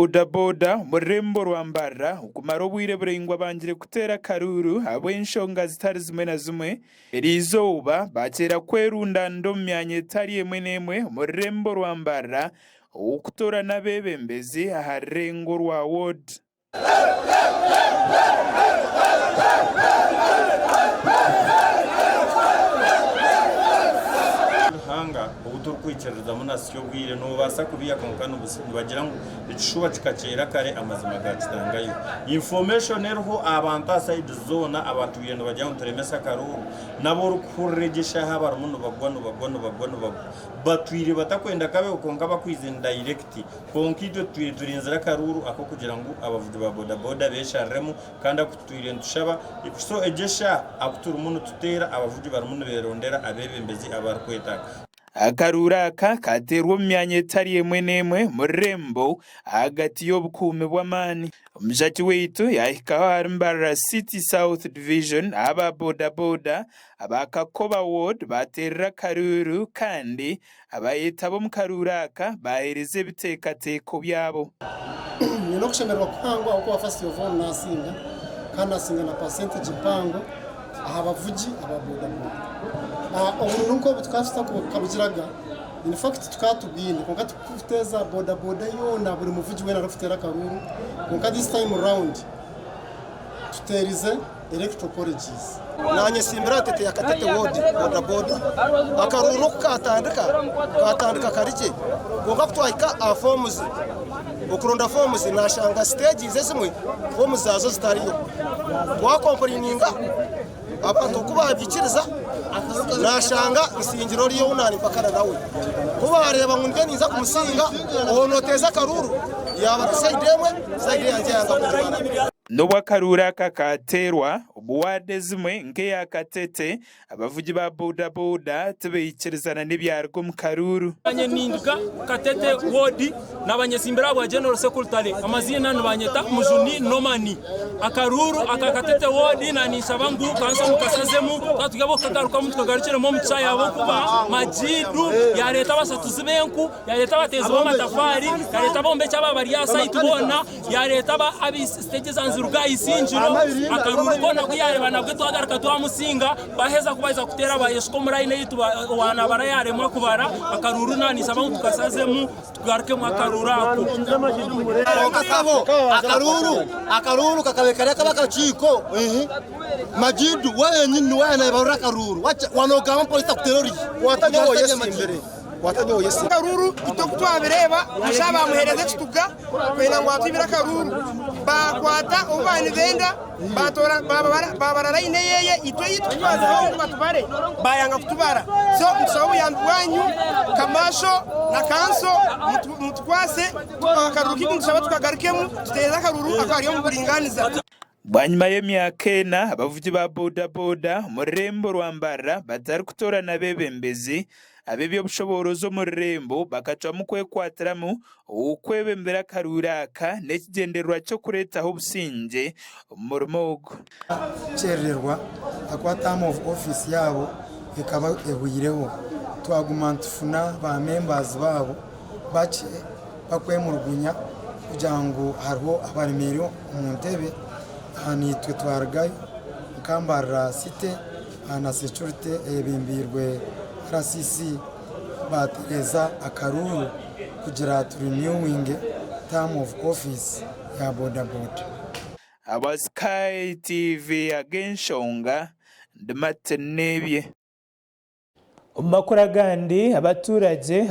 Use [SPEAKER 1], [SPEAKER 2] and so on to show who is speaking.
[SPEAKER 1] bodaboda omu rurembo rwa Mbarara okumara obwire buraingwa bangire kuteera akaruuru ahabw'enshonga zitari zimwe na zimwe eri izooba bakyeera kwerundanira omu myanya etari emwe n'emwe omu rurembo rwa Mbarara ow'okutoorana abeebembezi aha rurengo rwa Ward.
[SPEAKER 2] Ky'obwire, noobaasa kubiiha kwonka nibusa. Nibagira ngu ekishuba kikaceera kare amazima gaakitangayo. Information eriho aha bantu aha sides zoona abaatwire nibagira ngu turemese akarooro nabo orikuhurira egi eshaaha abarimu nibagwa nibagwa nibagwa nibagwa batwire batakwenda kabeho kwonka bakwize ni direct kwonka itwe tutwire turinzire akaruuru ak'okugira ngu abavugi ba bodaboda beeshariremu kandi aku tutwire nitushaba so egi eshaaha aku turimu nituteera abavugi barimu nibeerondera abeebembezi abarikwetaaga. Akaruuru
[SPEAKER 1] aka kaateerwa omu myanya etari emwe n'emwe omu rurembo ahagati y'obukuumi bw'amaani. Omujaaki waitu yaahikaho ahari Mbarara City South Division ahu aba bodaboda aba Kakoba Ward baateerire akaruuru kandi abaayetaba omu karuuru aka baaheereza ebiteekateeko byabo. Nyine
[SPEAKER 3] okushemererwa kuhango ahabw'okuba First of all naasinga, kandi naasinga na percentage mpango. aha bavugi aba bodaboda. Obururu nk'obu tukaba tutakabugiraga, in fact tukaba tubwine kwonka turikuteeza bodaboda yoona buri muvugi weena arikuteera akaruuru kwonka this time round tuteerize Electoral Colleges. Naanyetsimbira
[SPEAKER 4] ntete ya Katete Ward bodaboda. Akaruuru oku kaatandika, kaatandika kare gye kwonka ku twahika aha foomuzi, Okuronda foomu zi nashanga siteegi ezimwe foomu zaazo zitariyo. Twakompureininga abantu oku baabiikiriza nashanga nsingira ori ou naari mpakana nawe. Ku baareeba ngu niinye ninza kumusinga, oho nooteeza akaruuru yaaba ari sayidi emwe, sayidi yangye yanga kugimara. N'obu akaruuru
[SPEAKER 1] aka kaateerwa, omu waadi ezimwe nk'eya Katete, Abavugi ba boda boda tibaikiriza na n'ebyaruga omu karuuru. Banyeninga
[SPEAKER 5] Katete Ward nabanyetsimbira ahabwa General Sekultale. Amaziina nibanyeta Mujuni Norman. Akaruuru aka Katete Ward na ninshaba ngu kanso mukasazemu katugye abokukagarukamu tukagarukiremu omu kishaayi ahabwokuba Majiidu yareeta abashatuzi b'enku, yareeta abateezi b'amatafaari, yareeta abombeki aba bari aha site boona. Yareeta aba abi stage za Nziruka aha isingiro, akaruru koona oku yareba nabwe twagaruka twamusinga, baheza ku baaheza kuteera bayeshuka omu line eitu owa nabara yaremwa kubara akaruru nanisaba ngu tukasazemu tugarukemu akaruru ako. Konka
[SPEAKER 4] kaho akaruru akaruru kakabe kari akaba akakiiko ihi Majidu we wenyini niwe ayanebarura akaruru wanogamu polisi etakuteera orihi? Watabi owo yesimbire. Kwata nyowe Yesu. Akaruuru itwe ku
[SPEAKER 6] twabireeba busha baamuheereza ekituga kwenda ngu atwibire akaruuru. Baakwata obu baaba nibenda baatoora baabarara aine eyeeye itwe ei tukutwazireho ngu batubare baayanga kutubara. So nitusaba obuyambi bwanyu Kamaasho na Kanso mutukwase akaruuru kaitu nitushaba tukagarukemu tuteereze akaruuru ako ari omu buringaaniza. Bwanyima
[SPEAKER 1] y'emyaka ena, abavugi ba bodaboda omu rurembo rwa Mbarara batarikutoorana abeebembezi, ab'eby'obushoboorozi omu rurembo bakacwamu kwekwatiramu kwebembera akaruuru aka n'ekigyendererwa ky'okureetaho obusingye omu murimo ogu. Kukyerererwa
[SPEAKER 3] akwata aha Move ofiisi yaabo ekaba ehweireho, twaguma nitufuna baamemba baabo bakye bakwemulugunya kugira ngu hariho abaremeire omu ntebe aha naitwe twarugayo nka Mbarara city aha na securite eyebembeirwe RCC batereza akaruuru kugira tu renewing term of office ya boda boda. Aba
[SPEAKER 1] Sky TV ag'enshonga ndi Martin Nebye. Omu makuru agandi abatuuragye.